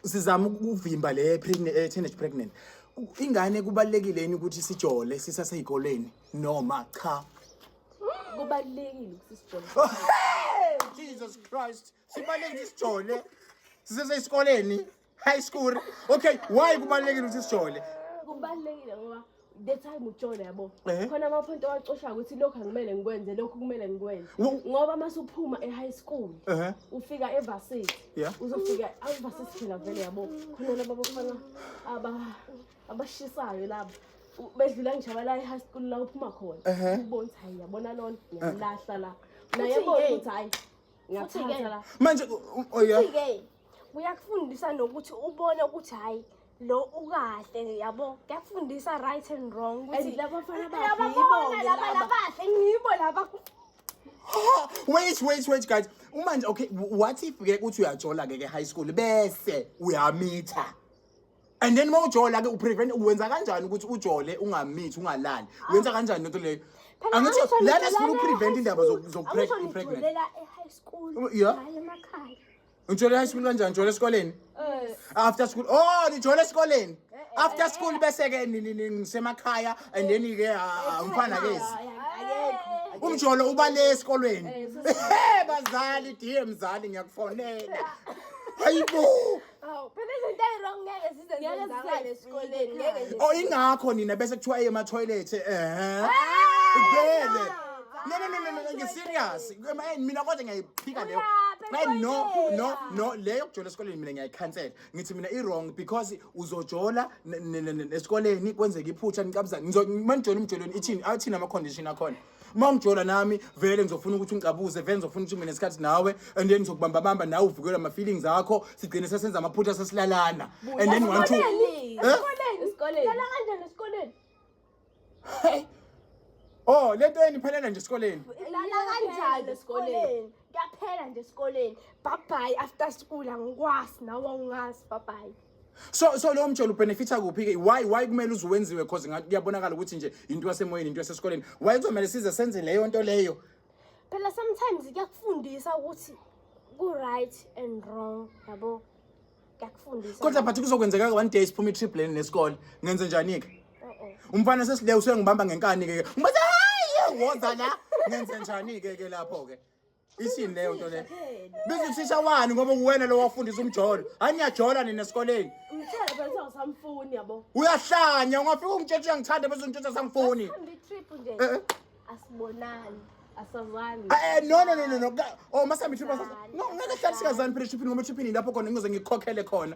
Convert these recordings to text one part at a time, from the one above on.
sizama ukuvimba le pregnant eh, teenage pregnant ingane kubalekile yini ukuthi sijole sisaseyikoleni noma cha kubalekile ukuthi sijole oh, Jesus Christ sibalekile ukuthi sijole sisesesikoleni high school okay why kubalekile ukuthi sijole kubalekile ngoba the time utshona yabo Eh. khona amaphonto awacoshayo ukuthi lokhu angimele ngikwenze lokhu kumele ngikwenze Wo- ngoba uma suphuma e-high school Ehhe. ufika evasithi Yeah. uzofika avasithi phela vele yabo khona laba bafana aba- abashisayo laba U- bedlula ngijaba la e-high school la uphuma khona Ehhe. ubona ukuthi hayi yabona lona ngiyamlahla la naye Uthi, ebona "Hey, ukuthi hayi ngiyathatha la manje u- oh yeah ke kuyakufundisa nokuthi ubone ukuthi hayi lo ukahle yabo kuyakufundisa right and wrong ukuthi And laba bafana babi laba yibo bona ke laba laba. labahle ngibo laba Ha, wait wait wait guys uma nje okay w- what if ke uthi uyajola ke ke high school bese uyamitha and then uma ujola ke uprevent wenza kanjani ukuthi ujole ungamithi ungalali wenza kanjani lento leyo Phela angithi angisho lana ngijolana sifuna uprevent e-high indaba school. Angisho zokupregnant ngijolela e-high school, Yeah. hhayi emakhaya. ujola high school kanjani ujola esikoleni Eh, after school oh nijola esikoleni after school bese ke ni- ni- ni- ngisemakhaya and then ke ah, umfana ke Akekho. umjolo ubale esikolweni Eh, bazali dear mzali ngiyakufonela hayibo Aw, phela izinto eziwrong ngeke zize Ngeke zenzakale zize esikoleni, zifike ngeke nje. oh ingakho nina bese kuthiwa eye ema-toilet eh vele no no no no, no ngiserious Eh, mina kodwa ngiyayiphika leyo Uyaphi Ay, no etoilet? no no leyo yokujola esikoleni mina ngiyayikhansela ngithi mina i-wrong because uzojola n- n- n- n- esikoleni kwenzeka iphutha nicabuzane Ngizo- uma nijola umjolweni ithini athini ama-condition akhona uma ungijola nami vele ngizofuna ukuthi ungicabuze vele ngizofuna ukuthi mina sikhathi nawe and then ngizokubamba bamba nawe uvikelwe ama feelings akho sigcine sesenza amaphutha sesilalana and then one two Esikoleni. Eh? Esikoleni. Esikoleni. Lala kanjani esikoleni? Hey. oh lento yeni phelela nje esikoleni Lala kanjani esikoleni? Kuyaphela nje esikoleni. Bye bye after school angikwasi nawe awungazi bye bye. so so lowo mjolo ubenefitha kuphi ke why why kumele uze wenziwe because ngathi kuyabonakala ukuthi nje into yasemoyeni into yasesikoleni why kuzomele size senze leyo nto leyo phela sometimes kuyakufundisa ukuthi ku right and wrong yabo kuyakufundisa kodwa but kuzokwenzeka one day siphuma i-trip leni nesikole ngenze njani ke umfana sesile usengibamba ngenkani ke ngibathi hayi woza la ngenze njani ke ke lapho ke isini leyo nto leyo biza uthisha wani ngoba uwena lo wafundisa umjolo hayi niyajola nina esikoleni Ngithela phela ukuthi awusamfuni yabo. uyahlanya ungafika ungitshetshe uyangithanda bese ungitshetshe sangifuni Hambe trip nje. Eh, eh. Asibonani. Asazani. Eh, eh, no no no no no Ka- oh masami trip no ngeke hlala sikazani phela tripini ngoba tripini lapho khona ngizoze ngikhokhele khona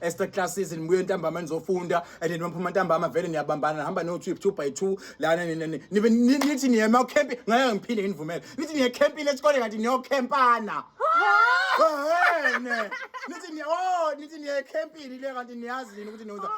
extra classes nibuye ntambama nizofunda and niphuma ntambama vele niyabambana nihamba no trip 2 by 2 lana nibe nithi niye ma camp ngeke ngiphinde nginivumele nithi niye camp ile sikole kanti niyo campana ehene nithi niye oh nithi niye camp ile kanti niyazi yini ukuthi niyoza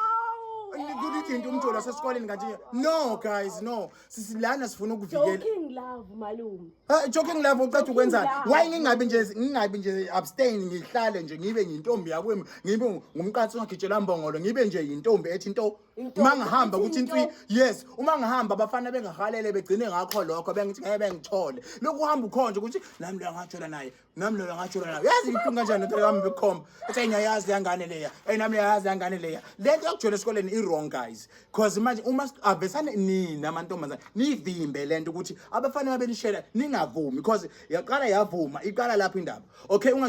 kuthi into umjolo sesikoleni kanti no guys no sisi lana sifuna ukuvikela joking love malume ha joking love ucatha ukwenzani why ngingabi nje ngingabi nje abstain ngihlale nje ngibe ngintombi yakwemi ngibe ngumqatsi ongagijela mbongolo ngibe nje intombi ethi into uma ngihamba ukuthi intwi yes uma ngihamba abafana bengahalele begcine ngakho lokho bengithi ngeke bengithole lokhu uhamba ukhonje ukuthi nami lo ngajola naye nami lona ngathi lona yazi ibuhlungu kanjani lento yami bekhomba ethi ayi ngiyayazi yangane leya ayi nami ngiyayazi yangane leya lento yokujola esikoleni i-wrong guys cause manje uma s- avesane nina amantombazane nivimbe lento ukuthi abafana babenishela ningavumi cause yaqala yavuma iqala lapho indaba okay unga